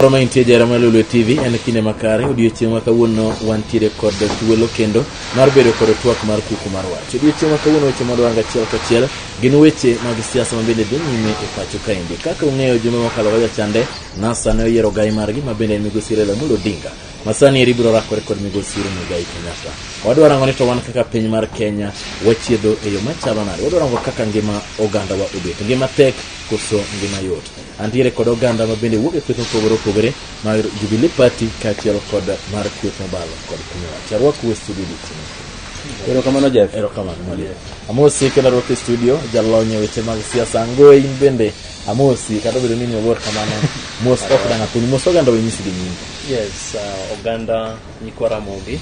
Roma intie jara ma Lulu TV en kinde makare odiochieng' ma kawuono wantiere kod thuolo kendo mar bedo kod twak mar kuku mar wach. Odiochieng' ma kawuono weche mwadwaro achiel kachiel gin weche mag siasa ma bende dhi nyime e pacho kaendi. Kaka ung'eyo juma mokalo ga jachande NASA ne oyiero gai margi ma bende en migosi Raila Amolo Odinga masani eri biro rakore kod migosi Uhuru Muigai Kenyatta. Wadwa rango ni to wan kaka piny mar Kenya wachiedho e yo machalo nade? Wadwa rango kaka ngima ogandawa obet, ngima tek koso ngima yot. Antiere kod oganda ma bende wuok e kweth mopogore opogore mar Jubilee Party kaachiel kod mar kweth mobalo kod piny owacho. Arwaku e studio odiochieng'. Erokamano Jeff. Erokamano Mwalimu. Amosi kendo arwaki e studio jalony e weche mag siasa Ngoe in bende amosi kata obedo ni ni oluor kamano mos ok dang' athuni mos oganda wenyisi gi nyingi. Yes, uh, oganda nyikwa Ramogi,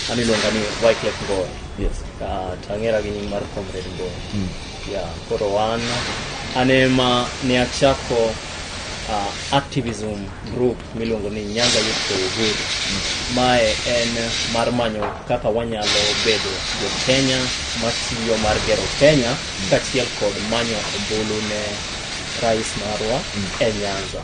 an iluonga ni Wycliffe Ngowe. Yes. Uh, to ang'era gi nying mar Comrade Ngowe. Yeah, koro wan an ema ne achako uh, activism group miluongo ni Nyanza Youth for Uhuru. Mae en mar manyo kaka wanyalo bedo jo Kenya matiyo mar gero Kenya kaachiel kod manyo ombulu ne rais marwa e Nyanza.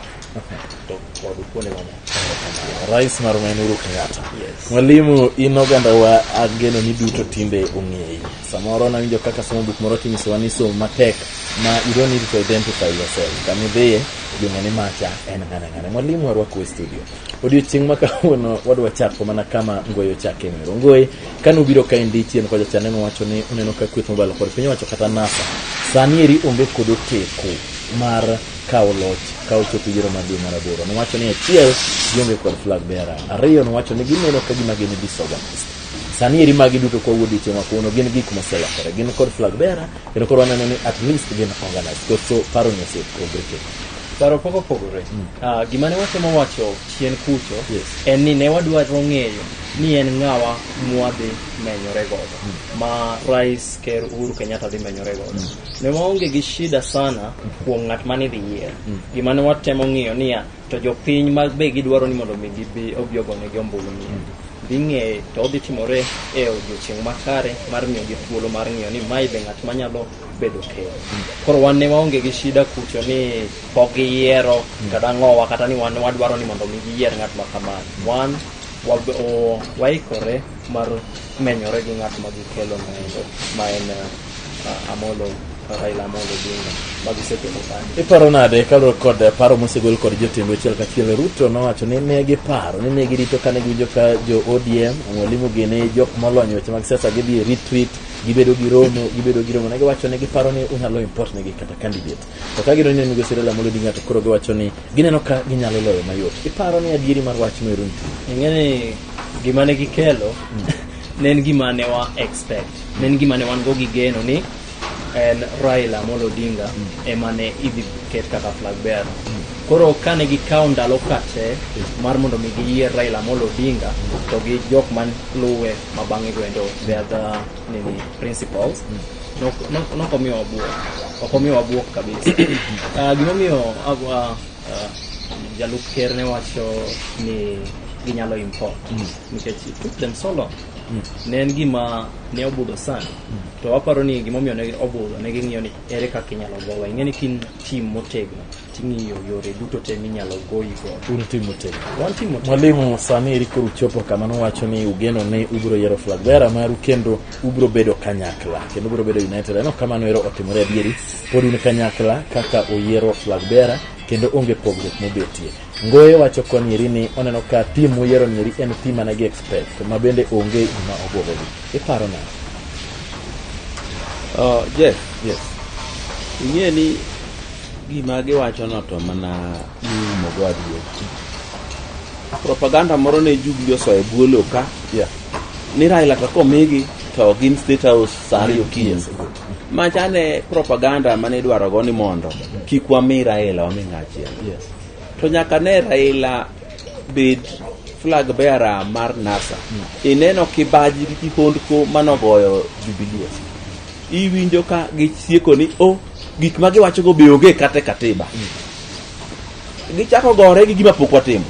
to kod kuonde mamoko rais mar ma en Uhuru Kenyatta. Yes. Mwalimu, in oganda wa ageno ni duto tinde ong'eyi. Samoro nawinjo kaka somo buk moro tinyisowa ni som matek ma you don't need to identify yourself. Kama idhiye jong'e ni macha en ng'ane ng'ane. Mwalimu arwako e studio. Odiochieng' ma kawuono wadwa chako mana kama Ngoyi ochake mero. Ngoyi, kane ubiro ka endi chien kocha cha neno wacho ni uneno ka kweth mobalo kod piny owacho kata NASA. Sani eri onge kod oteko mar kawo loch ka ochopo yiero mar dwe mar aboro. Nowacho ni achiel, gionge kod flag bearer. Ariyo, nowacho ni gineno ka gima gin disorganized. Sani eri magi duto kwa wuod ichema kuno gin gik moselokore. Gin kod flag bearer, kendo koro waneno ni at least gin organized. Koso paro ni osepogre kendo. Paro pok opogore. Ah, gima ne watemo wacho chien kucho Yes. en ni ne wadwaro ng'eyo ni en ng'awa mwadhi menyore godo ma Rais Ker Uhuru Kenyatta dhi menyore godo. ne waonge gi shida sana kuom ng'at mane idhi yier mm. gima ne watemo ng'iyo niya to jopiny ma be gidwaro ni mondo mi gibi obi ogonegi ombulu ni mm. dhi ng'eye to odhi timore e odiochieng' makare mar miyo gi thuolo mar ng'iyo ni mae be ng'at manyalo bedo ker mm. koro wan ne waonge gi shida kucho ni pok giyiero kata ng'owa kata ni wan wadwaro ni mondo mi giyier ng'at ma kamano wan waikore mar menyore gi ng'at ma gikelo noendo ma en Amolo Raila Amolo Odinga magisekelo kanyo. Iparo nade kaluwore kod paro mosegol kod jotend weche kachiel Ruto nowacho ni ne giparo ni ne girito kane giwinjo ka jo ODM mwalimu gene jok molony weche mag siasa gidhi e retreat gibedo gi romo gibedo gi romo ne giwacho ni giparo ni unyalo import negi kata candidate To ka gidonjo ne migosi Raila Amolo Odinga to koro giwacho ni gineno ka ginyalo loyo mayot. Iparo ni adieri mar wach no Irundu? Ing'e ni gima ne gikelo ne en gima ne wa expect. Ne en gima ne wan go gi geno ni en Raila Amolo Odinga ema ne idhi ket kaka flag bearer. Koro kane gikawo ndalo kate mar mondo mi giyier Raila Amolo Odinga to gi jok man luwe ma bang'e go endo they are the nini principles nok- nok- nokomiyo wabuok okomiyo wabuok kabisa Ah, gimomiyo agwa ah, jalup ker ne wacho ni ginyalo import nikech it took them so long ne en gima ne obudho sana to waparo ni gimomiyo ne obudho ne ging'iyo ni ere kaka inyalo gowa ing'e ni kin tim motegno Ting'iyo yore duto te minyalo goyigo. Un timo te. Wan timo te. Mwalimu, sani eri koro uchopo kama nuwacho ni ugeno ni ubiro yiero flag bearer maru kendo ubiro bedo kanyakla kendo ubiro bedo united. Aneno kamano ero otimore adieri. Pod un kanyakla kaka uyiero flag bearer kendo onge pogruok mobetie. Ngoye wacho koni eri ni oneno ka tim muyiero ni eri en tim mane gi expect ma bende onge gima obwogogi. Iparo nang'o? Uh, Jeff, Yes. ing'e ni Gima giwachono to mana iumogo adier. Propaganda moro ne Jubili osoyo e bwo lowo ka Yeah. ni Raila to komigi to gin State House sa ariyo okinyi. Macha ne propaganda mane idwarogo ni mondo kik wami Raila wami ng'achiel. Yes. To nyaka ne Raila bed flag bearer mar NASA. Ineno kibaji gi kihondko manogoyo Jubilee. Iwinjo ka gisieko ni o gik ma giwachogo be onge kata e katiba gichako gore gi gima pok watimo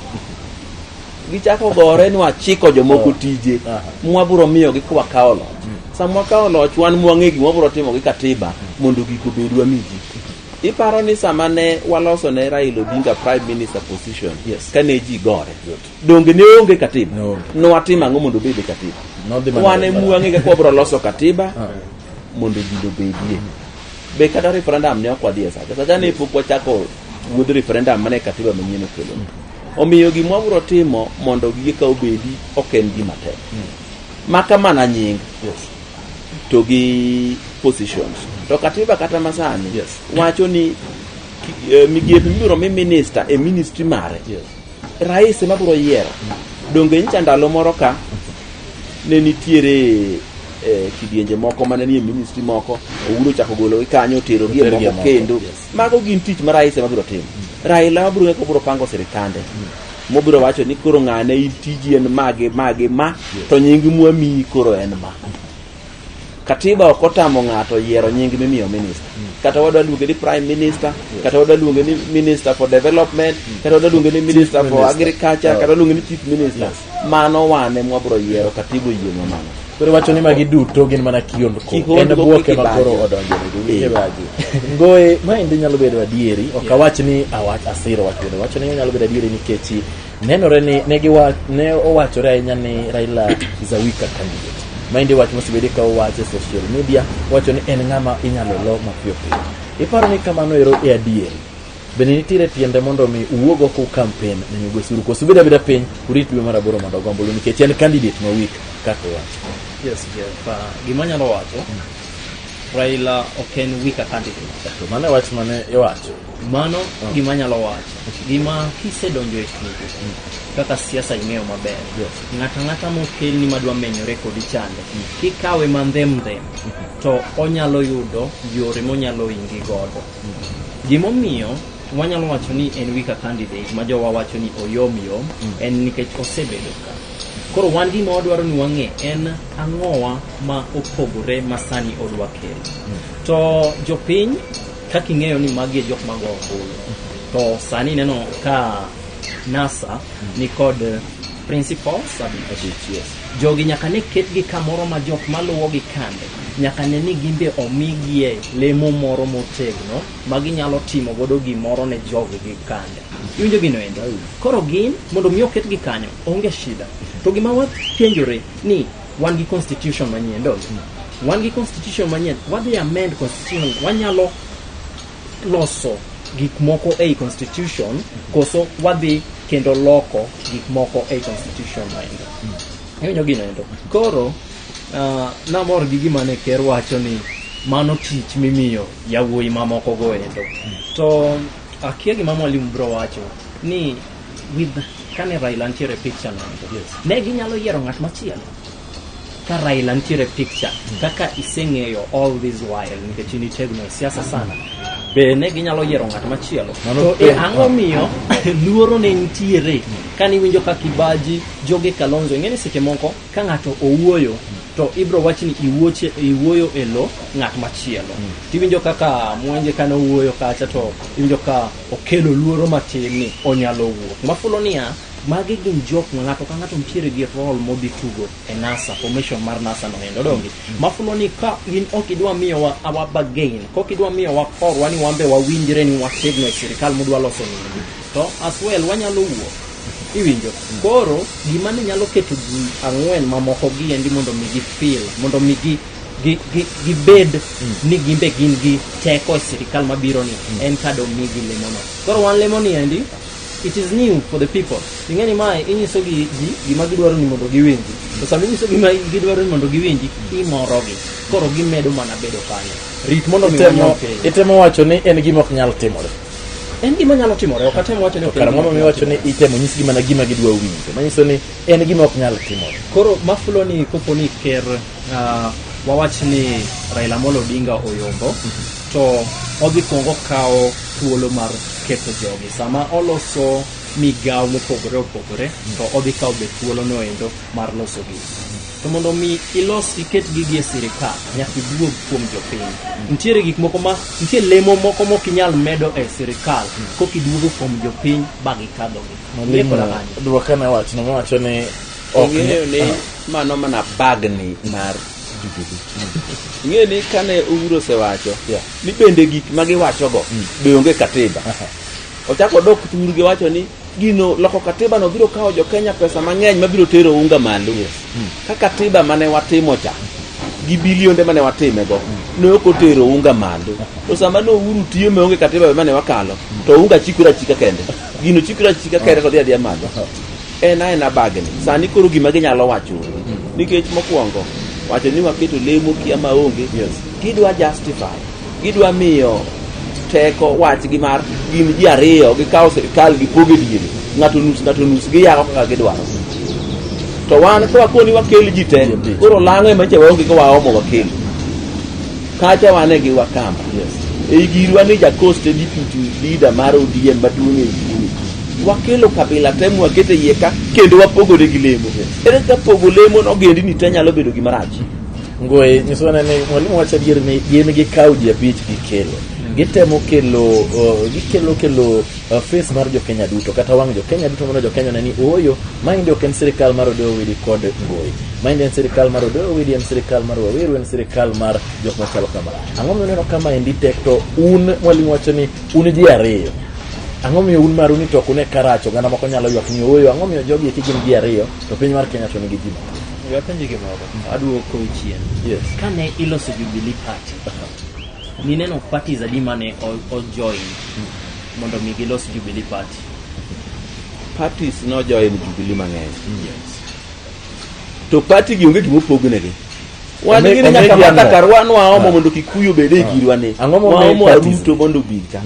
gichako gore ni wachiko jomoko tije mwabiro miyogi ka wakawo loch sama wakawo loch wan mwang'e gima wabiro timo gi katiba mondo gik obedwa miji iparo ni sama ne waloso ne Raila Odinga prime minister position Yes. kane ji gore donge ne onge katiba No. nowatimo ang'o mondo obed e katiba Nodhi mana- wan e mwang'e kaka wabiro loso katiba mondo ji obedie be kata referendum ne ok wadhi e sate sate ne pok wachako wuodh referendum mane katiba manyien okelo omiyo gima wabiro timo mondo gige ka obedi ok en gima tek maka mana nying to gi positions to katiba kata masani Yes. wacho ni ki- eh, migepe mibiro mi minister e ministry mare Yes. Rais ema biro yiero. Donge nyicha ndalo moro ka ne nitiere eh, kidienje moko mane nie ministry moko Uhuru ochako gologi kanyo oterogi e Oterogi e moko moko, kendo yes. mago gin tich ma rais ema biro timo Raila ema biro ng'eko biro pango sirikande mobiro wacho ni koro ng'ane in tiji en mage mage ma to nying mwamiyi koro en ma katiba ok otamo ng'ato yiero nying mimiyo minista kata wadwa luonge ni prime minister kata wadwa luonge ni minister for development kata wadwa luonge ni minister for Minister. agriculture Yeah. kata luonge ni chief minister Yes. mano wane mwabro yiero katiba oyienwa mano koro wacho ni magi duto gin mana kihondko en Kihondko bwoke kiki ma bajo. koro odonjonegi wike Eh. baji ngoye ma endi nyalo bedo adieri ok Yeah. awach ni awach asiro wachone wacho ni nyalo bedo adieri nikech Nenore ni ne, giwa, ne owachore ahinya ni Raila is a weaker candidate. Maendi wach mosebedi ka owach e social media, wacho ni en ng'ama inyalo lo mapiyo piyo. Iparo ni kamano ero e adieri? Bende nitiere tiende mondo mi uwuog oko kampen ne Migwe Suru koso ubed abeda piny urit dwe mar aboro mondo ogombulu nikech en candidate ma weak kaka owacho. Yes, Jeff. Uh, gima anyalo wacho, Raila ok en weaker candidate. To mano e wach mane iwacho. Mano oh. gima anyalo wacho. Gima kisedonjo e tugo, mm. kaka siasa ing'eyo maber. Ng'ata ng'ata mokelni madwa menyore kodi chande, mm. kikawe mandhem ndhem, mm-hmm. to onyalo yudo yore monyalo ingi godo. Mm. Gimomiyo wanyalo wacho ni en wika candidate ma jowa wacho ni oyom yom, en nikech osebedo ka. Koro wan gima wadwaro ni wang'e en ang'owa ma opogore ma sani odwa kelo. To jopiny Kaka ing'eyo ni magi e jok mago ombulu, to sani ineno ka NASA nikod principals abich. Jogi nyaka ne ketgi kamoro ma jok maluwogi kande nyaka ne ni gimbe omigie lemo moro motegno ma ginyalo timo godo gimoro ne jogi gi kande. Iwinjo gino endo? Koro gin mondo mi oketgi kanyo onge shida. To gima wapenjore ni Wan gi constitution manyien, don't we? Wan gi constitution manyien, wadhi amend constitution, wanyalo loso gik moko ei constitution koso wadhi kendo loko gik moko ei constitution maendo. Iwinjo gino endo. Koro ah, namor gi gima ne ker wacho ni mano tich mimiyo yawuoyi mamoko go endo. To akia gima mwalimu bro wacho ni with kane Raila nitiere picture no ne ginyalo yiero ng'at machielo ka Raila nitiere picture kaka iseng'eyo all this while nikech in itegno e siasa sana be ne ginyalo yiero ng'at machielo to e ang'o miyo luoro ne nitiere kane iwinjo ka kibaji joge kalonzo ing'e ni seche moko ka ng'ato owuoyo to ibro wach ni iwuoche- iwuoyo e lo ng'at machielo tiwinjo kaka mwenje kane owuoyo kacha to iwinjo ka okelo luoro matin ni onyalo wuok. Mafulo niya, magi gin jok ma ng'ato ka ng'ato nitiere gi rol modhi tugo e NASA, formation mar NASA no endo dongi. Mm. Mafulo ni ka in ok idwa miyo wa awa bagain, kok idwa miyo wa korwa ni wambe wawinjre ni wategno e sirikal mudwa loso nini. To as well wanyalo wuok. Iwinjo. Mm. Koro gima ne nyalo keto ji ang'wen mamoko gi endi mondo mi gi feel, mondo mi gi gi- gi- gibed ni gimbe gin gi teko e sirikal mabiro ni en ka domigi lemono koro wan lemoni endi it is new for the people ing'e ni mae inyiso gi ji gima gidwaro ni mondo giwinji to sama inyiso gima gidwaro ni mondo giwinji imorogi koro gimedo mana bedo kanyo rit mondo mi Itemo- wanyom piny itemo wacho ni en gima ok nyal timore en gima nyalo timore ok atem wacho ni ok en kara gima mondo mi nyalo wacho ni itemo nyisgi mana gima gidwa winjo manyiso ni en gima ok nyal timore koro mafulo ni kopo ni ker uh, wawach ni Raila Amolo Odinga oyombo to odhi kwongo kawo thuolo mar ketho jogi sama oloso migawo mopogore opogore to odhi kawo be thuolono endo mar losogi to mondo mi ilos iket gigi e sirikal nyaka iduog kuom jopiny nitiere gik moko ma nitie lemo moko mok inyal medo e sirikal kok iduogo kuom jopiny ba gikadhogi Mwalimu, dwokana wachno miwacho ni Ong'eyo ni mano mana bagni mar Jubilee. Ing'eyo ni kane Uhuru osewacho Yeah. ni bende gik ma giwachogo be onge katiba. Ochako odok thur gi wacho ni gino loko katiba no biro kawo jo Kenya pesa mang'eny ma biro tero unga malo. Ka katiba mane watimo cha gi bilionde mane watimego ne ok otero unga malo. To sama ne Uhuru tiyo ma onge katiba mane wakalo to unga chikore achika kende. Gino chikore achika kende to dhi adhiya malo. en aena bagni sani koro gima ginyalo wacho nikech mokwongo wacho ni waketo lemo kia maonge yes. gidwa justify gidwa miyo teko wachgi mar gin ji ariyo gikawo sirikal gipogo e diere ng'ato nus ng'ato nus giyako kaka gidwaro to wan kawakoni wakel ji te koro lang'o ema cha waonge ka waomo wakel Kacha wane gi Wakamba. Yes. Ei girwa ni Jacost e deputy leader mar ODM maduong' e Ikumi. Wakelo kabila te mwakete iye ka kendo wapogore gi lemo. Ere ka pogo lemo nogendini te nyalo bedo gima rach. Ngoe nyiso wana ni mwalimu wacho adier ni gin gikawo ji abich gikelo. Gitemo kelo, uh, gikelo kelo uh, face mar jokenya duto kata wang' jokenya duto mondo jokenya one ni ooyo maendi ok en sirikal mar odoyo widi kod ngoyi maendi en sirikal mar odoyo widi en sirikal mar waweru en sirikal mar jok machalo kama ang'o miyo uneno kama endi tek to un mwalimu wacho ni un ji ariyo ang'o miyo un maru ni to ok une karach oganda moko nyalo ywak ni ooyo ang'o miyo jogi eki gin ji ariyo to piny mar kenya to nigi ji mathoth Wapenji gimoro. Aduoko chien. yes Kane iloso Jubilee Party, Nineno parties adi mane o- ojoin mondo mi gilos Jubilee Party? parties nojoin Jubilee mang'eny to party gi onge gima opognegi wan Ome- gini omegi nyaka ang'o? matakar wan waomo mondo kikuyu obed e girwa ni Ang'o momi waomo parties? aruto mondo obed ka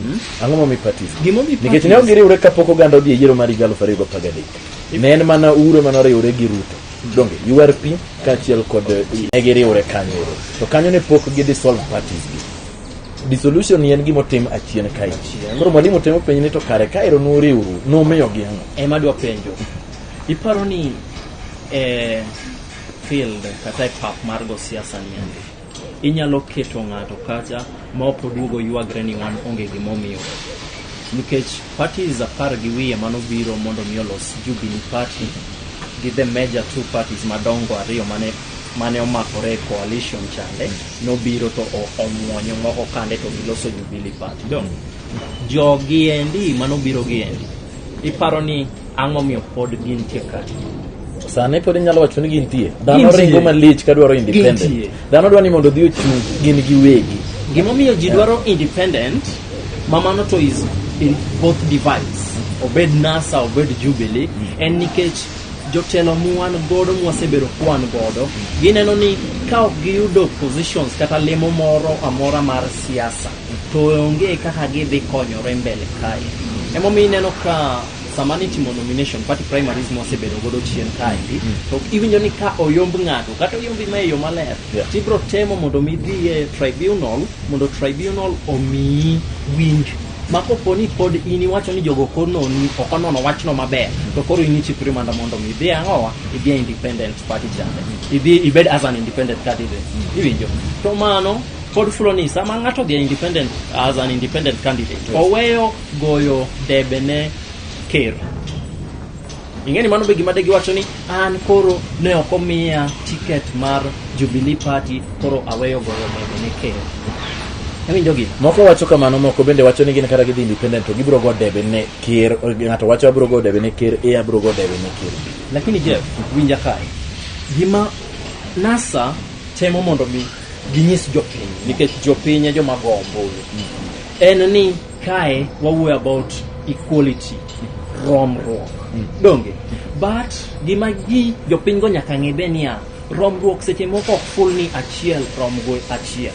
ang'o momi parties Gimomi nikech parties? ne ok giriwre kapok oganda odhi e yiero mar higa aluf ariyo gi apar gadek ne en mana ure mane oriwre gi ruto donge URP kaachiel kod ne giriwre kanyo ero to kanyo ne pok gi dissolve parties gi dissolution ni en gima otim achien kae koro mwalimu temo penjo ni to kare ka ero nuriwru numiyo gi ang'o ema dwa penjo iparo ni eh, field kata e pap mar go siasa ni ande Inyalo keto ng'ato kacha ma ok oduogo ywagre ni wan onge gimomiyo. Nikech parties apar gi wiye mano biro mondo mi olos Jubilee Party gi the major two parties madongo ariyo mane mane omakore e coalition chande nobiro to o- omwonyo moko kande to giloso Jubilee Party. Dong' jogi endi manobiro gi endi iparo ni Ang'o momiyo pod gintie ka? Sani pod inyalo wacho ni gintie. Dhano ringo malich ka dwaro independent. Dhano dwaro ni mondo odhi ochung' gin giwegi. Gimomiyo ji dwaro independent, mamano to is in both divides. Obed NASA, obed Jubilee, mm. en nikech jotelo mwan godo mwasebedo kwan godo gineno ni ka ok giyudo positions kata lemo moro amora mar siasa to onge kaka gidhi konyore mbele kae emomiyo ineno ka sama nitimo nomination party primaries mosebedo godo chien kaendi to iwinjo ni ka oyomb ng'ato kata oyombi ma e yo maler Yeah. tibro temo mondo mi idhi e tribunal mondo tribunal omiyi winj ma kopo ni pod in iwacho ni jogo kononi ok onono wachno maber to koro in ichik rimanda mondo mi idhi ang'owa idhi e independent party chande idhi ibed as an independent candidate iwinjo to mano pod fulo ni sama ng'ato odhi e independent as an independent candidate oweyo goyo debe ne ker ing'eni mano be gima de giwacho ni an koro ne ok omiya tiket mar jubilee party koro aweyo goyo debe ne ker awinjogi moko wacho kamano moko bende wacho ni gin kata gidhi independent to gibiro go debe ne ker ng'ato wacho abiro go debe ne ker e abiro go debe ne ker lakini jeff winja kae gima nasa temo mondo mi ginyis jopiny nikech jopiny e joma go ombulu en ni Kae wawuoyo about equality, romruok. Donge? But gima ji jopinygo nyaka ng'e be niya, romruok seche moko ok ful ni achiel rom go achiel.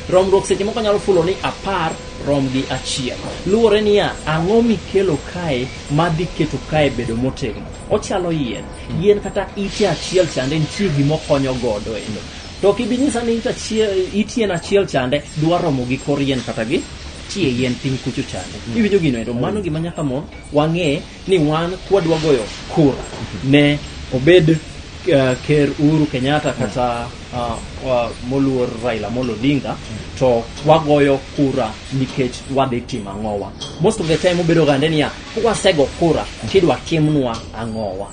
Romruok seche moko nyalo fulo ni apar rom gi achiel. Luwore niya, ang'o mikelo kae madhi keto kae bedo motegno. Ochalo yien. Yien kata ite achiel chande nitie gima okonyo godo endo. To ok ibi nyisa ni it achiel- it yien achiel chande dwa romo gi kor yien kata gi tie yien piny kucho chande. Iwinjo gino ero mano gima nyaka mon wang'e ni wan kwadwa goyo kura ne obed eh, ker Uhuru Kenyatta kata ah, wa- moluor Raila Amolo Odinga to wagoyo kura nikech wadhi timo ang'owa. Most of the time ubedo gande niya kwasego kura tidwa timnwa ang'owa.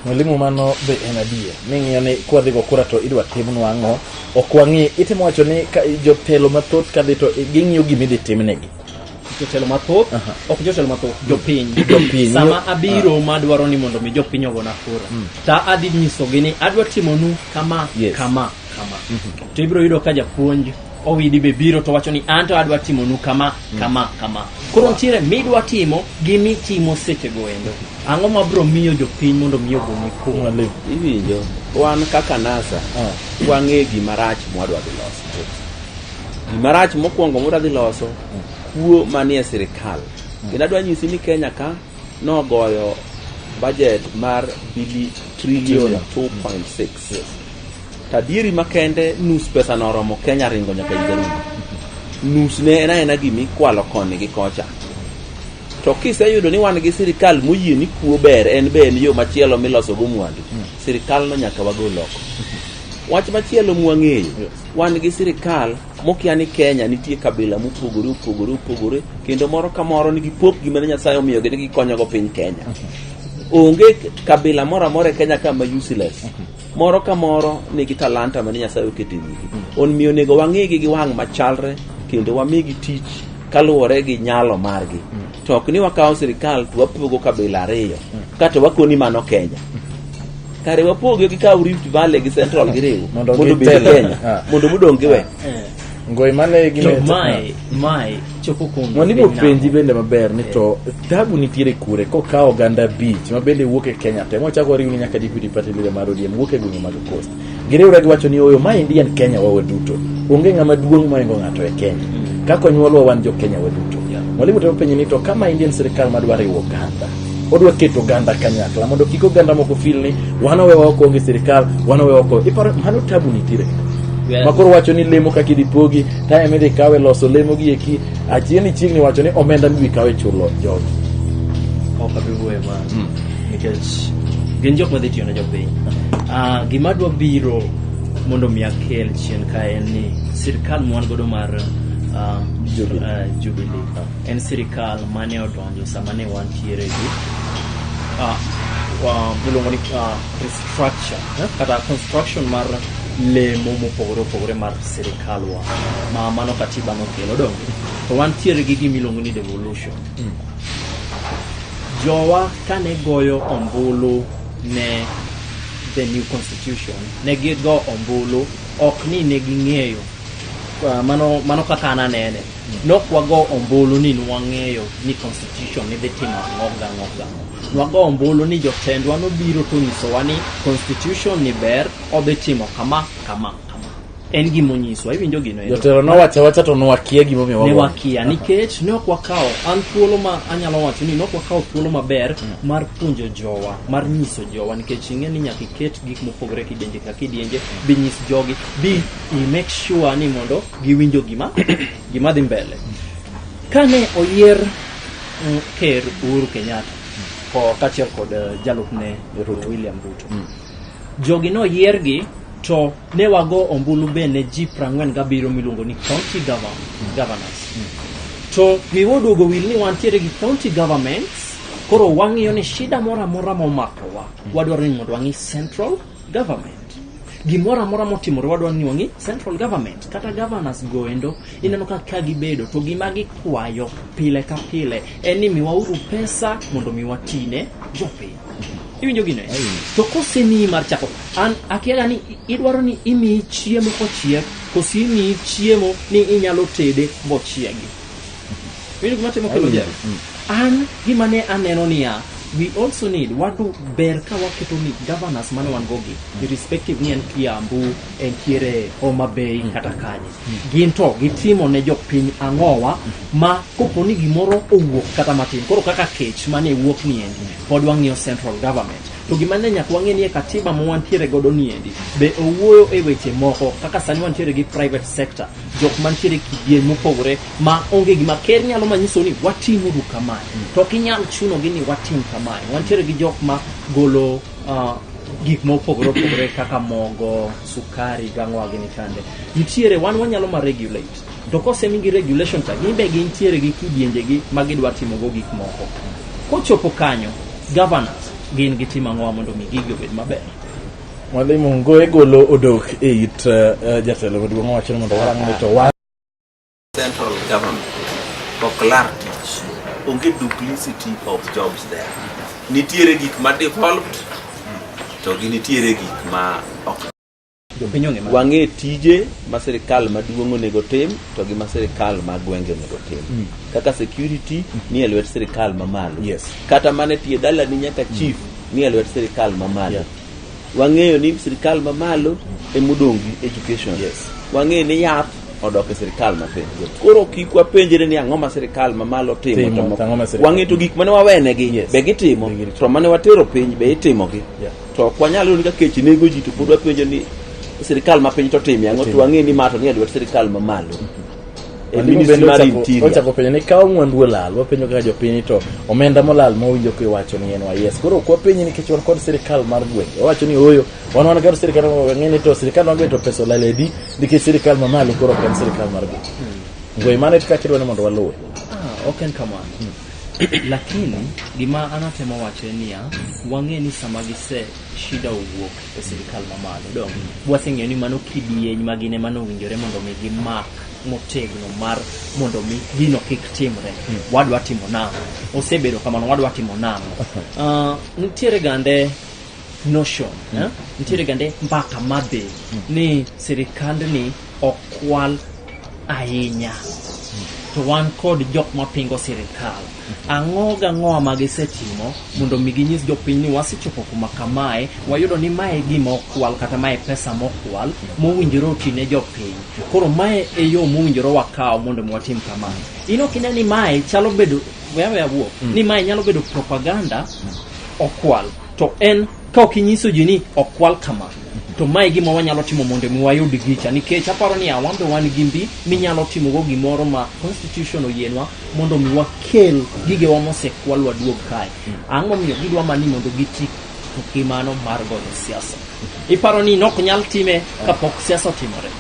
Mwalimu mano be en adier ming'iyo ni kwadhigo kura to idwa timnwa ang'o ok wang'i itimo wacho ni ka jotelo mathoth kadhi to ging'iyo gima idhi timnegi jotelo mathoth Aha. ok jotelo mathoth jopiny Jopiny. sama abiro madwaro ni mondo mi jopiny ogona kura ta adhi nyisogi ni adwa timonu kama Yes. kama kama to ibiro yudo ka japuonj owidi be biro to wacho ni anto adwa timonu kama kama kama koro nitiere midwa timo gi mitimo sechego endo ang'o ma bro miyo jopiny mondo mi ogoni kuma Mwalimu. iwinjo wan kaka nasa Ah. wang'e gima rach mwadwa dhi loso gima rach mokwongo mwadwa dhi loso kuo manie sirikal kendo adwa nyisi ni kenya ka nogoyo bajet mar bili trilion 2.6 Tadieri makende nus pesa no oromo Kenya ringo nyaka Igarudi. Nus ne en aena gima ikwalo koni gi kocha. To kiseyudo ni wan gi sirikal moyie ni kuo ber en be en yo machielo miloso go mwandu. Sirikal no nyaka wagol oko. Wach machielo mwang'eyo, wan gi sirikal mokia ni Kenya nitie kabila mopogore opogore opogore kendo moro ka moro nigi pokgi mane Nyasaye omiyogi ni gikonyogo piny Kenya. Onge kabila moro amora e Kenya ka ma useless. Moro ka moro nigi talanta mane Nyasaye oketo e wigi. Omiyo onego wang'igi gi wang' machalre kendo wamigi tich kaluwore gi nyalo margi. To ok ni wakawo sirikal to wapogo kabila ariyo kato wakoni mano Kenya. kare wapoge gi kaw rift valley gi central gi riwo Mondo mondo obed gitele. kenya Ah. mondo mudong giwe ngoi mane gi to meta- mae mae chopo kuom Mwani piny bopenji namo. bende maber ni to tabu nitiere kure kokawo oganda beach ma bende wuok e Kenya te mochako oriwni nyaka deputy party leader mar ODM wuok e gwenge mag coast giriwre giwacho ni oyo ma Indian Kenya wawe duto onge ng'ama duong' moingo ng'ato e Kenya kaka onyuolwa wan jo Kenya waduto mwalimu temo penjo ni to kama Indian sirikal madwa riwo oganda odwa keto oganda kanyakla mondo kik oganda moko fil ni wan owe oko onge sirikal wan owe oko iparo mano tabu nitiere ma koro wacho ni lemo kaka idhi pogi time midhi kawe loso lemo gi eki achiegni chiegni wacho ni omenda midhi kawe chulo jogi ok abi wuoye ma nikech gin jok madhi tiyo ne jopiny Ah, gima dwa biro mondo mi akel chien ka en ni sirikal mwan godo mar ah, Jubilee. ah, Jubilee en sirikal mane oto Ndio sama ne wantiere gi ah, wa- miluongo ni ah, restructure eh, kata construction mar lemo mopogore opogore mar sirikalwa ma mano katiba nokelo donge to wantiere gi gima iluongo ni devolution jowa kane goyo ombulu ne the new constitution ne gigo ombulu ok ni ne ging'eyo Ah, mano mano kaka an anene Nok wago ombulu ni nwang'eyo ni constitution ni dhi timo ang'o gi ang'o gi ang'o. Nwago ombulu ni jotendwa nobiro to onyisowa ni constitution ni ber odhi timo kama kama kama. En gima onyiswa iwinjo gino ero. Jotelo nowacho awacha to nwakia gimomiyo ne wago. wakia nikech ne ok wakawo an thuolo ma anyalo wacho ni ne ok wakawo thuolo maber mar puonjo jowa mar nyiso jowa nikech ing'e ni nyaka iket gik mopogore kidienje ka kidienje binyis jogi bi i make sure ni mondo giwinjo gima gima dhi mbele kane oyier mm, ker Uhuru Kenyatta ko kaachiel kod eh, jalupne Ruto. William Ruto jogi noyiergi to ne wago ombulu be ne ji 47 miluongo ni county govern- governors to riwo duogo wil ni wantiere gi county governments koro wang'iyo ni shida moro amora momakowa wadwaro ni mondo wang'i central government gimoro amora motimore wadwa ni wang'i central government kata governors goendo ineno ka ka gibedo to gima gikwayo pile ka pile en ni miwauru pesa mondo mi watine jopiny iwinjo gino eh? to kosemiyi mar chako an akiaga ni i- idwaro ni imiyi chiemo kochiek kosi imiyi chiemo ni inyalo tede bochiegi Winjo gima timo kelo jalo. An gima ne aneno niya, we also need wadu ber ka waketo ni governors mane wan gogi irrespective ni en Kiambu, entiere Homa Bay kata kanye. Gin to gitimo ne jopiny ang'owa ma kopo ni gimoro owuok kata matin. Koro kaka kech mane wuok ni endi pod wang'iyo central government. To gima ne nyaka wang'e ni e katiba ma wantiere godo ni endi be owuoyo e weche moko kaka sani wantiere gi private sector jok mantiere kidieny mopogore ma onge gima ker nyalo manyiso ni watimuru kamae to ok inyal chunogi ni watim kamae wantiere gi jok ma golo ah, gik mopogore opogore kaka mogo sukari gang'owa gini kande nitiere wan wanyalo ma regulate to kosemigi regulation cha gin be gintiere gi kidienjegi ma gidwa timogo gik moko kochopo kanyo governors gin gitimo ang'owa mondo mi gigi obed maber Mwalimu Ngoe golo odok e it uh, jatelo maduong' owacho ni mondo warang' ni to wa central government ok lar tich onge duplicity of jobs there nitiere gik ma devolved to gi nitiere gik ma ok wang'e tije ma sirikal maduong' onego tim to gi ma sirikal ma gwenge onego tim mm. kaka security mm. ni e lwet sirikal mamalo yes. kata mane tie dalani nyaka chief mm. nie lwet sirikal mamalo yeah. wang'eyo ni sirikal mamalo emodong' gi education yes. wang'eyo ni yath odok e sirikal mapiny koro kik wapenjre ni ang'o ma sirikal mamalo timo wang'e to gik mane wawenegi yes. be gitimo to mane watero piny be itimogi yeah. to ok wanyal yudo ka kech nego ji to pod wapenjo ni sirikal mapiny to timye ang'o to wang'e ni mato ni e lwet sirikal mamalo mm -hmm. e ministry mar interior ochako penjo ni kawo mwandu olal wapenjo kaka jopiny to omenda molal ma winjo ko iwacho ni en wa yes koro kwa penyi nikech wan kod sirikal mar gwenge wacho ni oyo wan wan kod sirikal mar gwenge to sirikal mar gwenge to pesa olal edi nikech sirikal ma malo koro ok en sirikal mar gwenge hmm. ngwe mane kaka kidwa ni mondo waluwe ah, ok en kamano hmm. lakini gima anatemo wacho en niya wang'e ni sama gise shida owuok e sirikal mamalo dong waseng'eyo ni mano kidieny ma gin ema nowinjore mondo mi gimak motegno mar mondo mi gino kik timre wadwa timo nang'o osebedo kamano wadwa timo nang'o Ah, nitiere gande notion eh? nitiere gande mbaka madhi ni sirikandni ok kwal ahinya to wan kod jok mapingo sirikal ang'o gang'oa ma gisetimo mondo mi ginyis jopiny ni wasechopo kuma kamae wayudo ni mae gima okwal kata mae pesa mokwal mowinjore oti ne jopiny koro mae e yo mowinjore wakaw mondo mi watim kamano in ok ine ni mae chalo bedo wewe awuo ni mae nyalo bedo propaganda okwal to en Ka ok inyiso ji ni ok kwal kama, to mae gima wanyalo timo mondo mi wayud gicha nikech aparo ni awan be wan gi mbi minyalo timogo gimoro ma constitution oyienwa mondo mi wakel gigewa mosekwalwa duog kae ang'o miyo gidwa mani mondo giti gi mano mar goyo siasa iparo ni nok nyal time kapok siasa otimore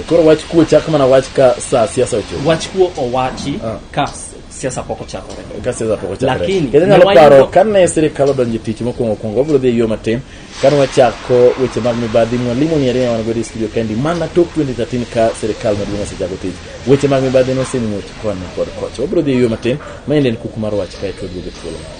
koro wach kuo chak mana wach ka sa siasa ochopo wach kuo owachi Ah. ka siasa pok ochakore ka siasa pok ochakore Lakini, kendo nyalo ne wayudo- paro kane sirikal odonjo e tich mokwongo kwongo wabiro dhi e yo matin kane wachako weche mag mibadhi mwalimu ni ariyo wan godo e studio kendi mana tok 2013 ka sirikal maduong' osechako tich weche mag mibadhi nosemuoch koni kod kocha wabiro dhi e yo matin ma en en kuku mar wach kae to waduogo e thuolo moro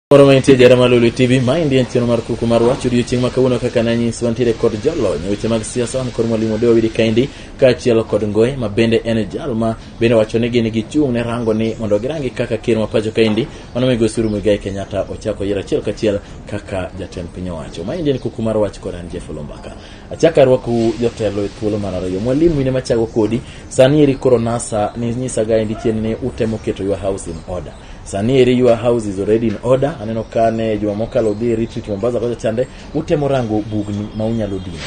Moro mantie jara ma Lulu TV, ma endi en chenro mar kuku mar wach odiochieng' ma kawuono kaka nanyis wantiere kod jolony e weche mag siasa wan kod mwalimu Deo Widi Kaindi kaachiel kod Ngoye ma bende en jal ma bende wacho ni gin gichung' ne rango ni mondo girangi kaka ker ma pacho kaendi mano migosi Uhuru Muigai Kenyatta ochako yiero achiel kachiel kaka jatend piny owacho. Ma endi en kuku mar wach kod an Jeff Olombaka. Achako arwakou jotelo e thuolo mar ariyo. Mwalimu in ema chago kodi, sani eri koro NASA ni nyisaga endi chien ni utemo keto your house in order. Sani eri your house is already in order. Aneno kane juma mokalo dhi retreat Mombasa kocha chande utemo rango bugni ma unyalo dino.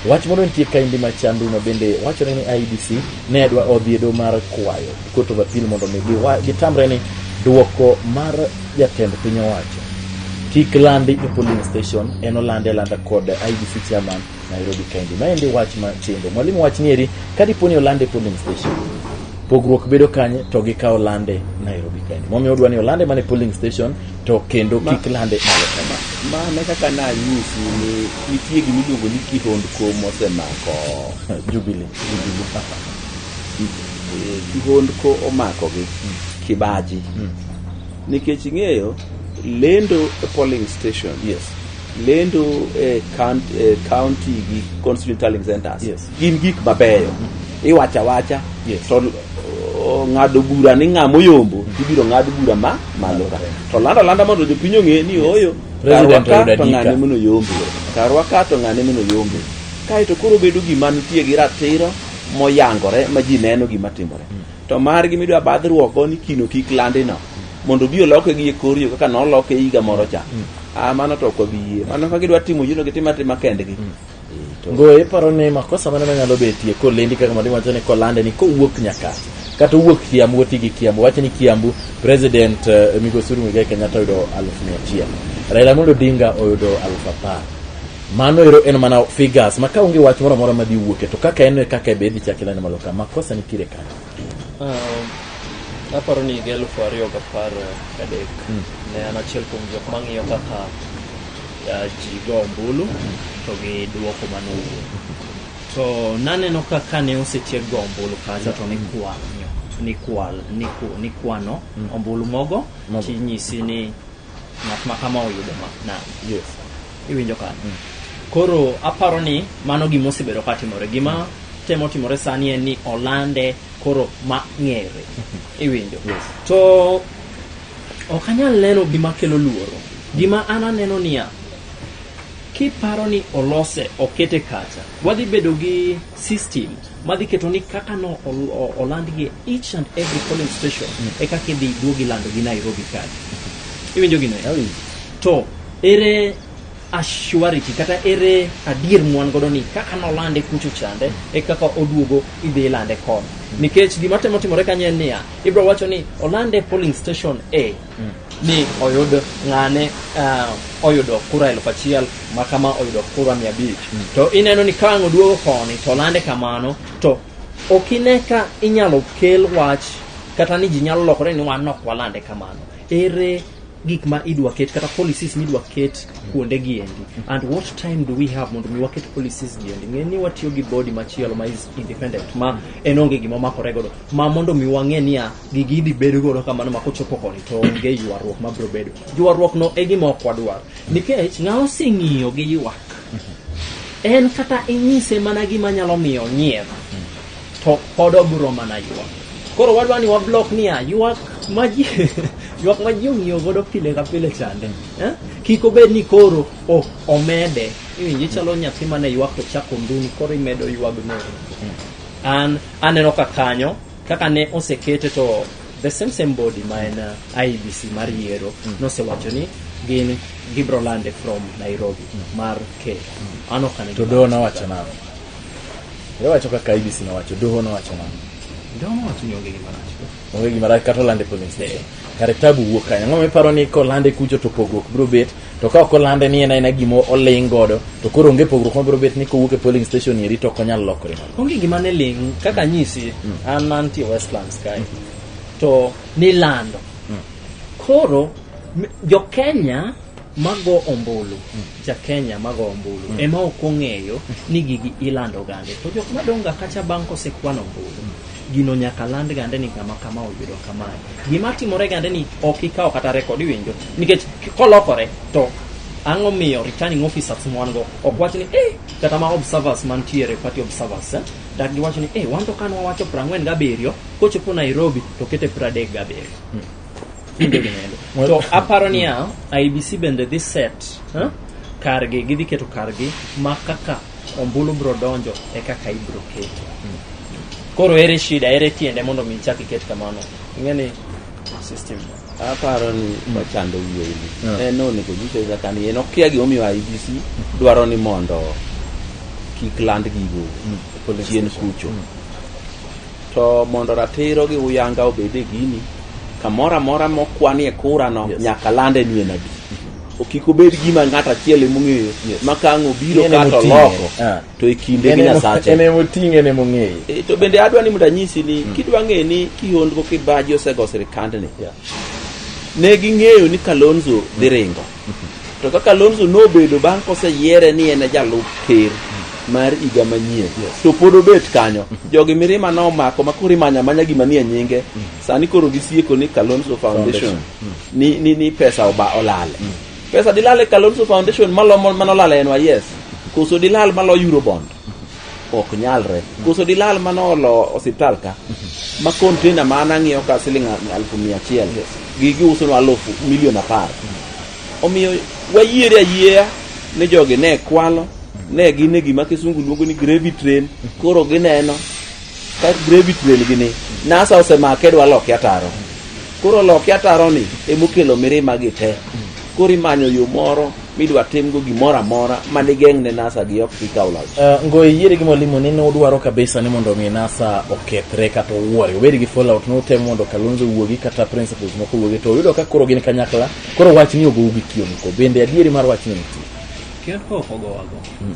Wach moro nitie ka indi machandu ma bende wachore ni IDC ne dwa odhiedo mar kwayo Court of Appeal mondo mi giwa- gitamre ni duoko mar jatend piny owacho kik landi e polling station en olande alanda kod IDC chairman Nairobi County. Ma endi wach ma tindo. Mwalimu wach nieri, ka dipo ni olande polling station, pogruok bedo kanye to gikawo lande Nairobi County. Momiyo odwa ni olande mane polling station to kendo Ma- kik lande malo kama. Ma ne kaka nanyisi ni nitie gima iluongo ni kihondko mosemako Jubilee. eh, kihondko omakogi kibaji nikech ing'eyo lendo e polling station Yes. lendo e count- e county gi constituent tallying centers Yes. gin gik mabeyo iwacho awacha Yes. to o, ng'ado bura ni ng'a moyombo ibiro ng'ad bura ma malo ka to landa landa mondo jopiny ong'e ni oyo President karwa ka oyudo to adika. ng'ane mono yombe karwa ka to ng'ane mono yombe kaeto koro bedo gima nitie gi ratiro moyangore ma ji neno gima timore to margi midwa badhruokgo ni kino kik landino mondo obi oloke gi e kor yo kaka noloke e higa moro cha mm. ah, mano to ok wabi yie mano ka gidwa timo yino gitima tima kendgi mm. eh, go iparo ni makosa mane manyalo betie kolendi kaka madi wacho ni kolande ni kowuok nyaka kata owuok kiambu oti gi kiambu wacho ni kiambu president uh, migosi Uhuru Muigai Kenyatta oyudo aluf mia achiel Raila Amolo Odinga oyudo aluf apar Mano ero en mana figures ma ka onge wach moro amora madhi wuoke to kaka en no e kaka be idhi chak ineno malo ka makosa nitiere kanyo. Um, aparo ni higa elufu ariyo gapar gadek ne an achiel kuom jok mang'iyo kaka uh, ji go ombulu to gi duoko manowuok to naneno ka kane osetiek go ombulu kanyo to nikwanyo nikwal niku- nikwano ombulu mogo Mogo. tinyisi ni ng'at ma kama oyudo ma na yes iwinjo ka Mm. koro aparo ni mano gima osebedo ka timore gima temo timore sani en ni olande koro ma ng'ere iwinjo Yes. to ok anyal neno gima kelo luoro gima an aneno niya kiparo ni olose okete kacha wadhi bedo gi system madhi keto ni kaka no ol- o- olandgi e each and every polling station e kaka idhi duogi lando gi Nairobi card iwinjo gino eh? to ere assurity kata ere adier mwan godo ni kaka nolande kucho chande e kaka oduogo idhi ilande koni nikech gima temo timore kanyo en niya ibro wacho ni olande e polling station a ni oyud ng'ane ah, oyudo kura elfu achiel ma kama oyudo kura mia abich to ineno ni ka ang' oduogo koni to lande kamano to ok ine ka inyalo kel wach kata ni ji nyalo lokore ni wan ok walande kamano ere gik ma idwa ket kata policies midwa ket kuonde gi endi and what time do we have mondo mi waket policies gi endi ng'e ni watiyo gi body machielo ma is independent ma en onge gima omakore godo ma mondo mi wang'e niya gigi idhi bed godo kamano ma kochopo koni to onge ywaruok ma biro bedo ywaruok no e gima ok wadwar nikech ng'a oseng'iyo gi ywak en kata inyise mana gima nyalo miyo nyier to pod obiro mana ywak koro wadwa ni wablok niya ywak ma ji ywak ma ji ong'iyo godo pile ka pile chande eh? kik obed ni koro o- omede iwinji chalo nyathi mane ywak to chako nduni koro imedo ywagno an aneno ka kanyo kaka ne osekete to the same same body ma en uh, IBC mar yiero nosewacho ni gin gibro lande from Nairobi mar Kenya an ok ane to gima- doho nowacho nang'o iwacho kaka ibc nowacho doho nowacho nang'o Doho nowacho ni onge gima rach onge gima rach kata olande polling station kare tabu wuok kanye ang'o miparo ni kolande kucho to pogruok biro bet to ka ok olande ni en aena gima oling godo to koro onge pogruok mabiro bet ni kowuok e polling station eri to ok onyal lokore mana onge gima ne ling kaka nyisi an mantie westlands kae to nilando koro m- jokenya mago ombulu jakenya mago ombulu ema ok ong'eyo ni gigi ilando gande to jok madonga kacha bang' kosekwan ombulu gino nyaka land gande ni ngama kama oyudo kamae gima timore gande ni ok ikawo kata rekod iwinjo nikech kolokore to ang'o miyo returning officers mwan go ok wach ni eh kata ma observers mantiere party observers eh, dak giwach ni eh wan to kan wawacho prang'wen gabiriyo kochopo nairobi to kete pradek gabiriyo kinde gi nendo Well- to aparo niya ibc bende dhi set huh? kargi gidhi keto kargi ma kaka ombulu bro donjo e kaka ibro keto koro ere shida ere tiende mondo mi ichak iket kamano ing'eni system aparo ni ochando wiye ni Yeah. en onego nyise kaka ni en okia gimomiyo IBC dwaro ni mondo kik land gigo chien kucho To mondo ratiro gi uyanga obed e gini, kamoro amora mokwanie kurano Yes. nyaka lande ni en adi. O Kik obed gima ng'ato achiel emong'eyo Yes. ma ka ang' obiro En kato emoting'e. loko Ah. to e kinde En gi emo- Nyasache. en emoting'e en emong'eyo E, to bende adwa ni mondo anyisi ni kidwa ng'e ni kihondko kibaji osego sirikandni Yeah. ne ging'eyo ni kalonzo dhi ringo To kaka Alonso nobedo bang' koseyiere ni en e jalup ker mar higa manyien to pod obet kanyo jogi mirima nomako ma koro imanya manya gima nie nyinge sani koro gisieko ni Kalonzo Foundation ni, ni, ni pesa oba olale pesa dilale Kalonzo Foundation malomo manolale en yes koso dilal malo Eurobond ok nyalre koso dilal mane olo osiptal ka ma container ma an ang'iewo ka siling alfu mia achiel gi giusonwa alfu milion apar omiyo wayiere ayieya ni jogi ne kwalo ne gin e gima kisungu luongo ni gravy train koro gineno ka gravy train gini nasa osemake dwa loke ataro koro loke ataro ni emokelo mirima gi te Koro imanyo yo moro midwa timgo gimoro amora ma digeng' ne NASA gi ok gikaw loch. Uh, eh, Ngoye yiere gi mwalimu ni nudwaro kabisa ni mondo mi NASA okethre kata owuore obed gi fallout notem mondo Kalonzo wuogi kata principles moko wuogi to uyudo ka koro gin kanyakla koro wach ni ogou gi kioniko bende adieri mar wach ni nitie. Kioniko ok ogowago. Hmm.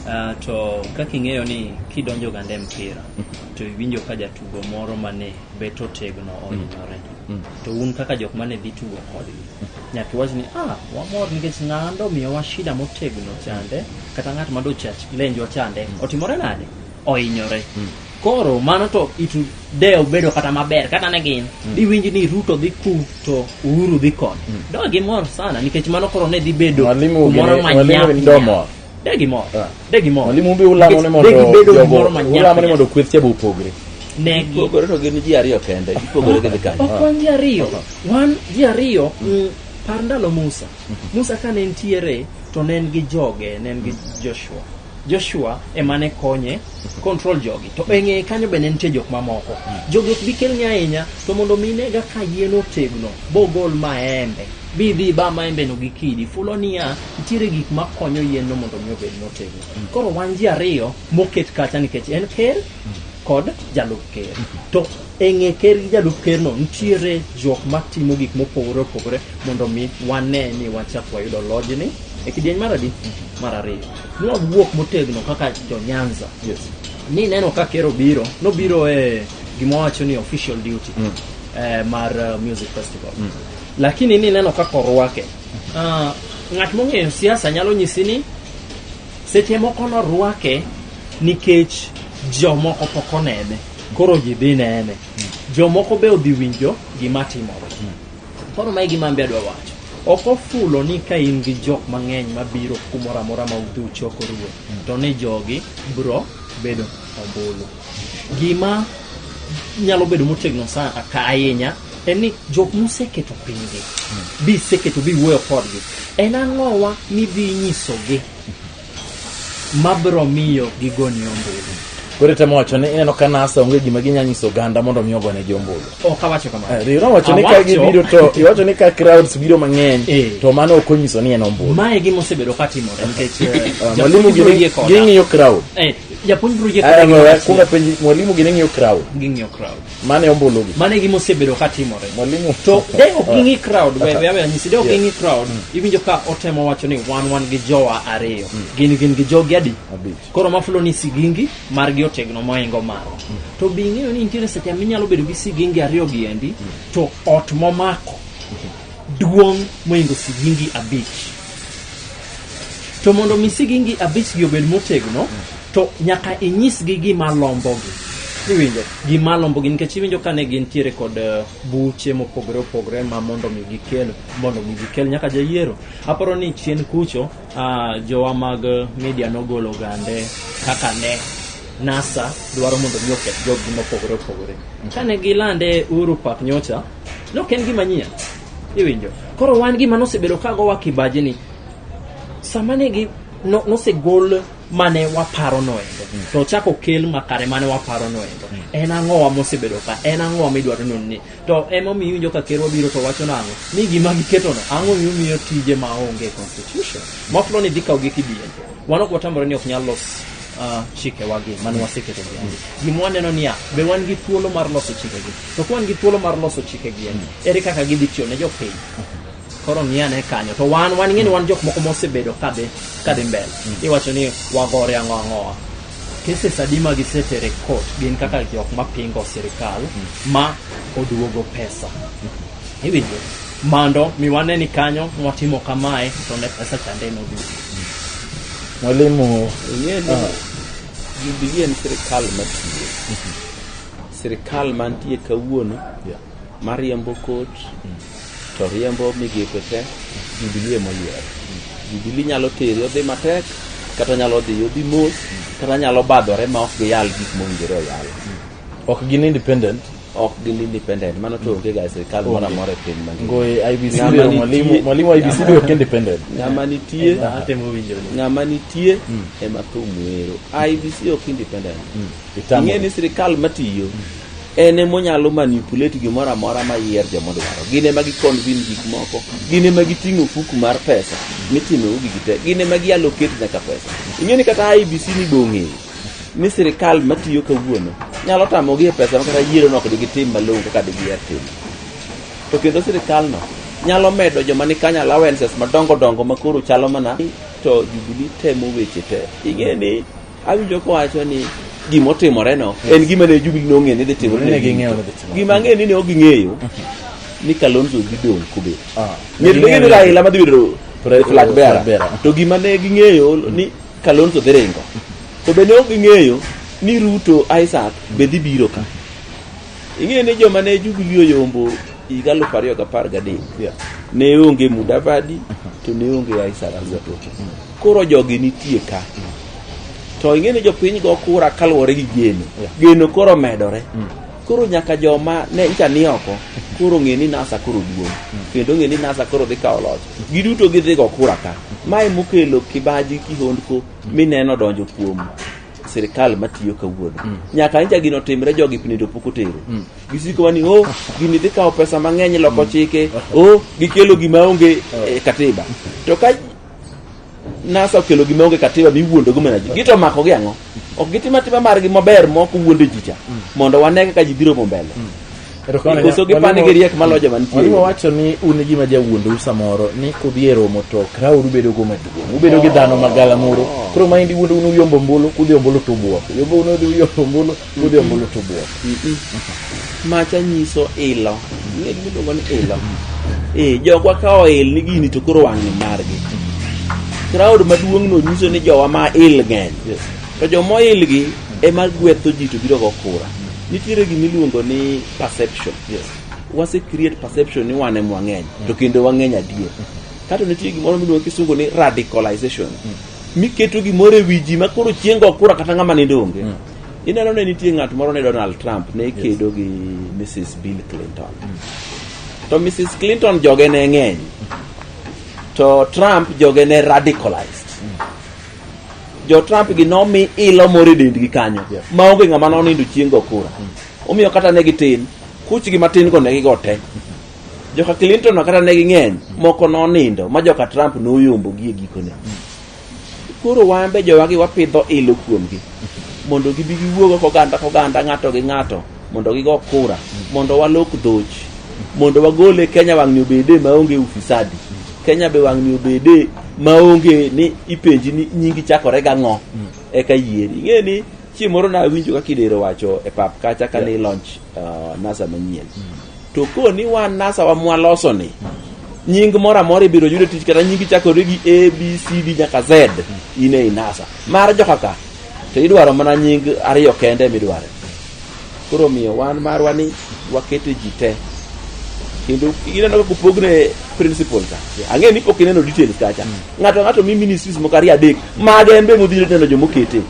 Uh, to kaka ing'eyo ni kidonjo gande mpira hmm. to iwinjo ka jatugo moro mane bet otegno ohinyore. Hmm. Mm. To un kaka jok mane dhi tugo kodgi, nyaka iwach ni ah, wamor nikech ng'ando omiyowa shida motegno chande, kata ng'at ma dochach lenjwa chande, mm. otimore nade? Ohinyore. Mm. Koro mano to itu de obedo kata maber kata ne gin mm. diwinj ni Ruto dhi ku to Uhuru dhi koni. Mm. Do gimor sana nikech mano koro ne dhi bedo kumoro manyap. Degi mo. Ah. Degi mo. Mwalimu mbe ulamo ne mondo ulamo ne mondo kweth chebo opogre. Ne gipogore to gin ji ariyo kende. Gipogore gi kanyo. Ok wan ji ariyo. Wan ji ariyo mm. Mm, par ndalo Musa. Mm-hmm. Musa kane nitiere to ne en gi joge, ne en gi mm. Joshua. Joshua ema ne konye control jogi to e ng'eye kanyo be ne nitie jok mamoko jogi ok bi kelni ahinya to mondo mi nega ka yien otegno bogol maembe bidhi ba maembeno gi kidi fulo niya nitiere gik ma konyo yienno mondo mi obed motegno koro wan ji ariyo moket kacha nikech en ker kod jalup ker to e ng'e ker gi jalup kerno nitiere jok matimo gik mopogore opogore mondo mi wane ni wachak wayudo lojni e kidieny mar adi mar ariyo nwawuok motegno kaka jonyanza Yes. ni neno ka ker obiro nobiro e gima wacho ni official duty eh, mar eh, music festival lakini ni neno kaka orwake Ah, ng'at mong'eyo siasa nyalo nyisi ni seche moko norwake nikech jomoko pok onene koro ji dhi nene jomoko be odhi winjo gima timore koro mae gima mbe adwa wacho ok ofulo ni ka in gi jok mang'eny mabiro kumoro amora ma udhi uchokorue to ni jogi bro bedo ombulu Gima nyalo bedo motegno sana ka ahinya en ni jok museketo pinygi bi iseketo bi iwuoyo kodgi en ang'owa midhi nyisogi mabiro miyo gigoni ombulu koro itemo wacho ni ineno ka nasa onge gima ginya nyiso oganda mondo mi ogone gi ombulu ok awacho kamano Eh, riwruok wacho ni ka Awacho- gibiro to iwacho ni ka crowds biro mang'eny Eh. to mano ok onyiso ni en ombulu mae gima osebedo ka timore nikech eh, Ah, mwalimu jatugo gini- yie koda. ging'iyo crowd Eh, japuonj biro jiwo Ana ng'eyo kuong apenji mwalimu gine ng'iyo crowd. ging'iyo crowd Mane ombolo gi. mano e gima osebedo ka timore Mwalimu. to de ok ging'i crowd we we awe nyisi de ok Yeah. ging'i crowd iwinjo ka otemo wacho ni wan wan gi jowa ariyo gin gin gi jogi adi Abich. koro mafulo ni sigingi margi otegno moingo maro to be ing'eyo ni nitiere seche minyalo bedo gi sigingi ariyo gi endi to ot momako duong' moingo sigingi abich to mondo mi sigingi abich gi obed motegno to nyaka inyisgi gima lombogi iwinjo gima lombogi nikech iwinjo kane gintiere kod eh, buche mopogore opogore ma mondo mi gikel mondo mi gikel nyaka jayiero aparo ni chien kucho ah, jowa mag eh, media nogolo gande kaka ne nasa dwaro mondo mi oketh joggi mopogore opogore kane gilande uru pak nyocha No, ok en gima nyien iwinjo koro wan gima nosebedo ka gowa kibaji ni sama ne gi no- nosegol mane waparo noendo to ochako okel makare mane waparo noendo en ang'owa mosebedo ka en ang'owa midwaro nonni to emomiyo iwinjo ka ker wabiro to wacho nang'o ni gima giketono ang'o miyo miyo tije ma onge constitution maflo ni dhi kawogi kidienje Wan ok watamore ni ok nyal los uh, chikewagi mane waseketo gi andi. Gima waneno niya, be wan gi thuolo mar loso chikegi? To ka wan gi thuolo mar loso chikegi, en, ere kaka gidhi tiyo ne jopiny? Koro ng'i ane kanyo. To wan, wan ing'e ni wan jok moko mosebedo kadhi, kadhi mbele. Iwacho ni wagore ang'o ang'owa. Cases adi ma gisetere e court gin kaka jok ma pingo sirkal ma oduogo pesa. Iwinjo? Mando mi wane ni kanyo mwatimo kamae to ne pesa chande noduogo. Mwalimu, ing'e ni Ah. Jubilee en sirikal matiyo sirikal mantie kawuono Yeah. mariembo kot to riembo migepe te Jubilee emoyiero. Jubilee nyalo teri odhi matek kata nyalo dhi odhi mos kata nyalo badhore ma ok giyal gik mowinjore oyal. Ok gin independent. Ok gin independent. Mano to onge ga e sirkal moro amora e piny mangima. Ngoe IBC Ng'ama lero nitie- mwalimu mwalimu IBC be ok independent. Ng'ama nitie Atemo winjo. ng'ama nitie ema thum wero. IBC ok independent. Ing'e ni sirkal matiyo en ema onyalo manipulate gimoro amora ma yier joma dwaro. Gin ema gikonvin gik moko, gin ema giting'o fuku mar pesa mitimo ugi gite, gin ema gialokate nyaka pesa. Ing'e ni kata IBC ni bong'eyo ni sirkal matiyo kawuono nyalo tamogi e pesa ma kata yiero nok digitim malong'o kaka digiher timo. To kendo sirkalno nyalo medo joma ni kanyo allowances madongo dongo makoro chalo mana to Jubilee temo weche te. Ing'e ni Awinjo kowacho ni gima otimoreno en gima ne Jubilee nong'eyo ni dhi timore. Ne ging'eyo ni dhi timore. Gima ang'eyo ni ne ok ging'eyo ni Kalonzo dhi dong' kobet. Ah, ne Ng'eto ne ging'eyo ging'eyo ni ni- Raila madhi bedo Pre- flag flag bearer. bearer. To gima ne ging'eyo ni Kalonzo dhi ringo. To be ne ok ging'eyo ni Ruto Isaac be dhi biro ka. Ing'eyo ni joma ne Jubilee oyombo higa aluf ariyo gi apar gadek Yeah. ne onge Mudavadi to ne onge Isaac Ruto. Koro jogi nitie ka. To ing'e ni jopiny go kura kaluwore gi geno. Geno koro medore. Mm. Koro nyaka joma ne ncha ni oko koro ng'e ni NASA koro duong'. Mm. Kendo ng'e ni NASA koro dhi kawo loch. Giduto gidhi go kura ka. Mae mokelo kibaji kihondko mm. mineno donjo kuom sirikal matiyo kawuono mm. nyaka nja gino timre jogi pinido pok otero mm. gisiko wani o oh, gini dhi kawo pesa mang'eny loko mm. chike o oh, gikelo gima onge oh. eh, katiba to ka NASA okelo gima onge katiba miwuondogo mana ji. Gito omako gi ang'o? Ok gitim atima margi maber ma ok wuonde ji cha. Mondo wane kaka ji biro mo mbele. Erokamano Koso ahinya. gipani Mwalimu- gi riek maloyo joma nitie. Mwalimu wacho ni un e gima jawuondou samoro ni kudhi e romo to krauru bedo go maduong'. Ubedo gi dhano magala moro. Koro maendi wuondou ni uyombo ombulu, kudhi ombulu to ubwok. Uyombo ni udhi uyombo ombulu, Godhiambo luto buok. Macha nyiso ilo. Ne giluongo ni ilo. Eh, jogwa ka oil ni gini to koro wang'ni margi. Crowd maduong' no nyiso ni jowa ma il ng'eny. Yes. To joma oil gi ema gwetho ji to biro go kura. Nitiere gima iluongo ni perception. Yes. wase create perception ni wan em wang'eny to kendo wang'eny adier kato nitie gimoro miluongo kisungu ni radicalization miketo gimoro e wi ji ma koro chieng' go kura kata ng'ama nindo onge Ineno ne nitie ng'at moro ne Donald Trump ne kedo gi Mrs. Bill Clinton. To Mrs. Clinton joge ne ng'eny. To Trump joge ne radicalized. Jo Trump gi nomi ilo moro e dendgi kanyo Yeah. ma onge ng'ama nonindo chieng' go kura. Omiyo kata ne gitin, kuchgi matin go ne gigo te. Joka Clinton no kata ne ging'eny, moko nonindo ma joka Trump noyombogi e gikone. koro wan be jowagi wapidho ilo kuomgi mondo gibi giwuogo koganda koganda ng'ato gi ng'ato mondo gigo kura mondo walok dhoch mondo wagole kenya wang'ni obede maonge ufisadi kenya be wang'ni obede maonge ni ipenji ni nyingi chakore gang'o eka yieri ing'e ni chieng' moro nawinjo ka kidero wacho e pap kacha ka ni launch uh, nasa manyien to koni wan nasa wa mwaloso ni nying moro amora ibiro yude tich kata nyingi chakore gi a b c d nyaka z in e inasa mar joka ka to idwaro mana nying ariyo kende midware koro omiyo wan marwa ni wakete ji te kendo ineno kaka opogne principal ka ang'e ni pok ineno details kacha ng'ato ng'ato mi ministries moko ariyo adek mage en be modhiro neno jomokete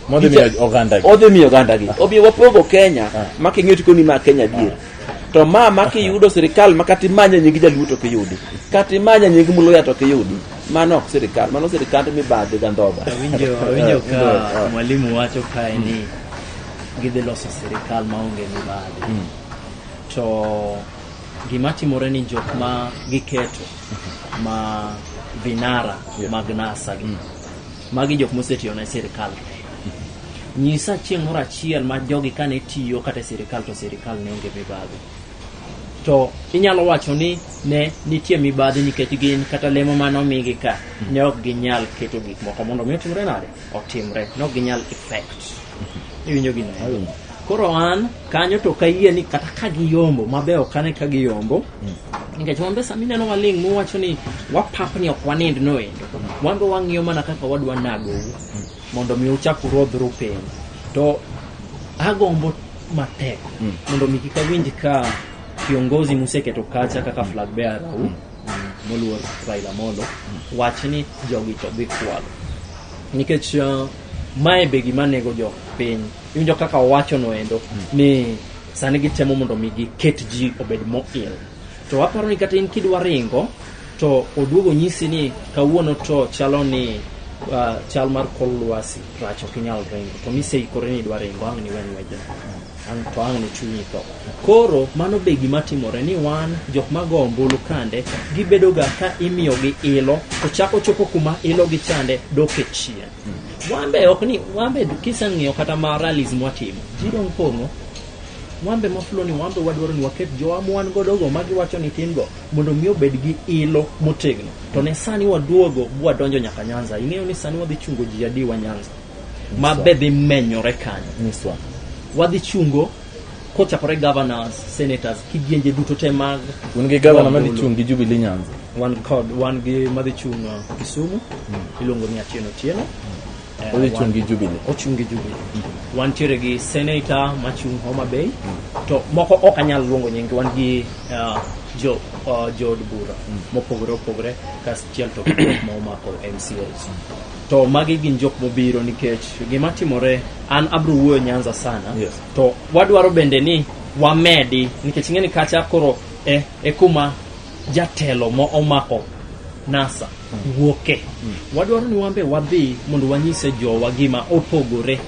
Modhi miyo ogandagi. odhi miyo ogandagi omiyo wapogo kenya ma king'iyo tikoni ma kenya dier to ma ma kiyudo sirikal ma kata imanye nying jaluo to kiyudi kata imanye nying muluya to kiyudi mano ok sirikal mano sirikand mibadhi gandhoga Awinjo awinjo ka mwalimu wacho kae ni gidhi loso sirikal maonge mibadhi. To gima timore ni jok ma giketo ma vinara mag NASA gi Magi jok mosetiyo ne sirkal. Nyisa chieng' moro achiel ma jogi kane tiyo kata e sirkal to sirkal ne onge mibadhi. To inyalo wacho ni ne nitie mibadhi nikech gin kata lemo mane omigi ka ne ok ginyal keto gik moko mondo mi otimre nade? Otimre. Ne ok ginyal effect. Iwinjo gino? Koro an kanyo to ok ayie ni kata ka giyombo mabe ok ane ka giyombo nikech wan be sama ineno waling' muwacho ni wapap ni ok wanind noendo wan be wang'iyo mana kaka wadwa nagou mondo mi uchak urodhru piny to agombo matek Mm. mondo mi kik awinj ka kiongozi museketo kacha kaka flag bearer u moluor Raila Amolo wach ni jogi to dhi kwalo nikech uh, mae be gima nego jo piny iwinjo kaka owacho noendo ni sani gitemo mondo mi giket ji obed moil to aparo ni kata in kidwa ringo to oduogo nyisi ni kawuono to chalo ni uh, chal mar kor lwasi rach ok inyal ringo to miseikore ni idwa ringo ang' niwen wejno ang' to ang' ne chunyi tho. Koro mano be gima timore ni wan jok ma go ombulu kande gibedoga ka imiyogi ilo to chako chopo kuma ilo gi chande dok e chien. Wan be ok ni wan be kiseng'iyo kata ma rallies mwatimo ji dong' pong'o wan be mafulo ni wan be wadwaro ni waket jowa ma wan godo go ma giwacho ni tin go mondo mi obed gi ilo motegno to ne sani waduogo bwadonjo nyaka Nyanza ing'eyo ni sani wadhi chungo ji adiwa Nyanza ma be dhi menyore kanyo nyiswa wadhi chungo kochakore governors senators kidienje duto te mag un gi gavana madhi Wambulu. chung' gi jubilee nyanza wan kod wan gi madhi chung' uh, kisumu iluongo ni atieno tieno Eh, odhi wan- chung' gi jubilee ochung' gi jubilee wantiere gi senator machung' homa bay to moko ok anyal luongo nyingi wan gi uh, jo uh, jood bura mopogore opogore kastiel to gi jok ma omako mcos to magi gin jok mobiro nikech gima timore an abro wuoyo nyanza sana Yes. to wadwaro bende ni wamedi nikech ing'e ni kacha koro e, e kuma jatelo mo omako nasa wuoke wadwaro ni wambe wadhi mondo wanyise jowa gima opogore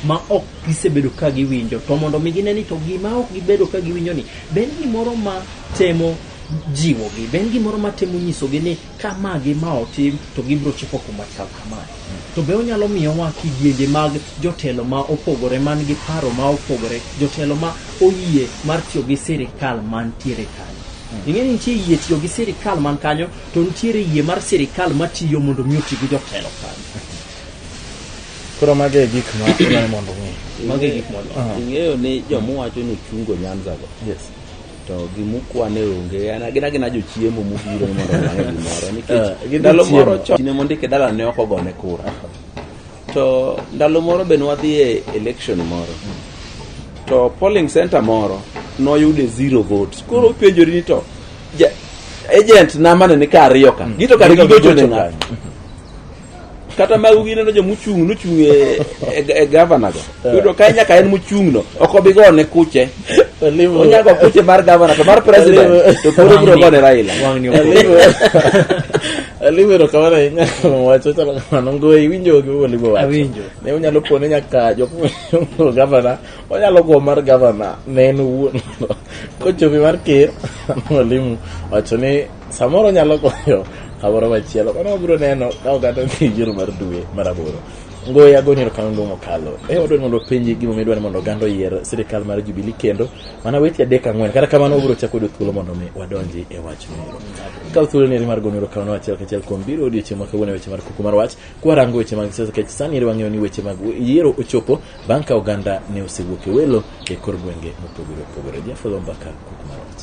ma ok gisebedo ka giwinjo to mondo mi gine ni to gima ok gibedo ka giwinjo ni be en gimoro ma temo jiwogi be en gimoro ma temo nyisogi ni ka ma gi ma otim to gibiro chopo kuma chal kamae. To be onyalo miyowa kidienje mag jotelo ma opogore man gi paro ma opogore, jotelo ma oyie mar tiyo gi sirikal mantiere kanyo. Ing'e ni nitie yie tiyo gi sirikal man kanyo to nitiere yie mar sirikal matiyo mondo mi oti gi jotelo kanyo. Koro mago e gik ma dwarore mondo ong'e. Mago e gik mondo. Ing'eyo ni jomuwacho ni ochungo Nyanza go. Yes. to gimukwa ne onge gin agina jochiemo mobiro ni mondo olange gimoro nikech eh, ndalo moro chine mondike dala ne ok ogone kura to ndalo moro be nwadhi e election moro to polling center moro noyude zero votes koro penjori ni to agent namane ni ka ariyo ka mm. gito kare gigochone ng'ato kata magu gineno jo mochung' nochung' e, e, e gavana go yudo ka nyaka en mochung' no ok obi gone kuche Olivo. onyago kuche mar gavana to mar president to koro biro gone raila Wang'ni ok- Olivo. Olivo erokamano ahinya kuom wacho chalo kamano ngoyo iwinjo gi Olivo wacho. Awinjo. Ne unyalo pone nyaka jok mochung' gavana onyalo go mar gavana ne en owuon kochopi mar ker Olimu wacho ni Samoro nyalo konyo kamoro machielo. Mano wabiro neno ka oganda dhi yiero mar dwe mar aboro. Ngoye agoni erokamano duong' mokalo. E wadwani mondo openji gimomiyo idwani mondo oganda oyier sirikal mar Jubilee kendo mana weche adek ang'wen. Kata kamano wabiro chako yudo thuolo mondo mi wadonji e wachno ero. Kaw thuoloni eri mar goni erokamano achiel kachiel kuom biro odiochieng' ma kawuono e weche mar kuku mar wach kwarango weche mag siasa kech sani eri wang'eyo ni weche mag yiero ochopo bang' ka oganda ne osewuok e welo e kor gwenge mopogore opogore. Jafadho Mbaka kuku mar wach.